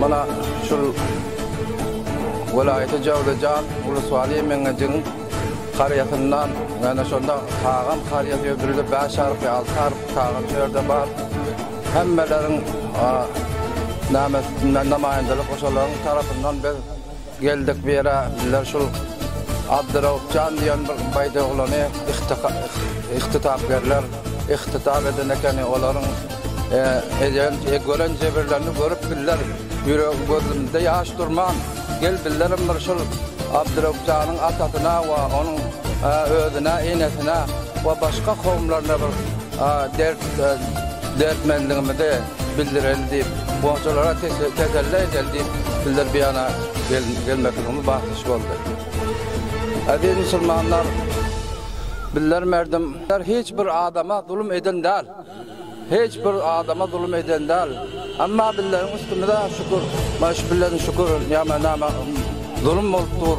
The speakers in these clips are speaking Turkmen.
Mana şul welaýaty Jowlejan ulus Waliýi Meňejigiň karyýasyndan, ýöne şonda Kagan karyýasy ýöne birde bäş harply, alty harply Kagan şu ýerde bar. Hemmeleriň näme üstünden namaýandalyk oşalaryň tarapyndan biz Geldik bu ýere bizler şul Abdyraupjan diýen bir baýdaoglany ihtisap berler ihtisap eden ekeni olaryň eden gören jebirlerini görüp bizler ýüregi gözümizde ýaş durman gel bizlerem bir şul Abdyraupjanyň atasyna we onuň özüne enesine we başga kowumlaryna bir A dert dertmendigimizi bildireli diýip, goňşulara teselli edeli diýip, sizler bu ýana gelmekligimiz bagtyş boldy. Eziz musulmanlar, bizler merdim, bizler hiç bir adama zulum eden däl, hiç bir adama zulum eden däl. Emma bizleriň üstümize şükür, maşgilleriň şükür, näme-näme zulum bolup dur.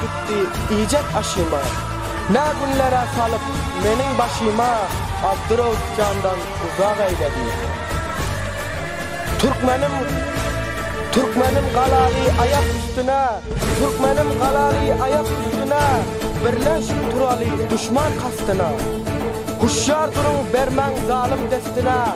Gitdi iýjek aşyma. Nä günler-ä salyp meniň başyma Abdurrauf jandan uzak eýledi. Türkmenim Türkmenim galaly aýak üstüne Türkmenim galaly aýak üstüne Birleş turaly duşman kastyna Huşýar duruň bermäň zalym destine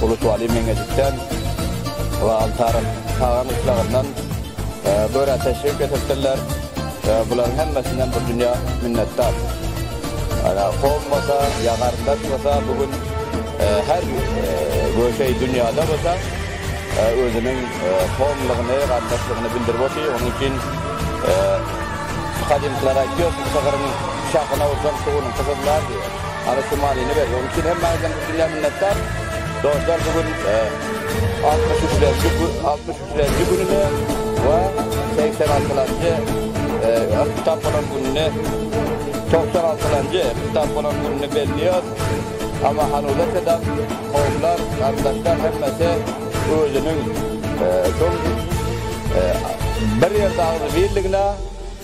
Bulut Wali Meňejikden we Altaryň Tagan gyşlagyndan börä teşrip getiripdirler. Bularyň hemmesinden bir dünýä minnetdar. Ana, kom bolsa, ýa garyndaş bolsa, bu gün her göşeý dünýäde bolsa, özüniň komlugyny, garyndaşlygyny bildirip otyr. Onuň üçin gadymkylar aýtýar, Sygyryň şahyna ursaň, sugunyňky gyzlar diýip. Ana Şumalyny berdi. Onuň üçin hemme adam dünýä minnetdar. Dostlar, bu gün 63-nji gün, 63-nji gününe we 86-njy kitap bolan gününe 96-njy kitap bolan gününe belliyor. Ama hanuza kadar kovlar, kardeşler hemmesi özünün e, bir yerde ağzı birligine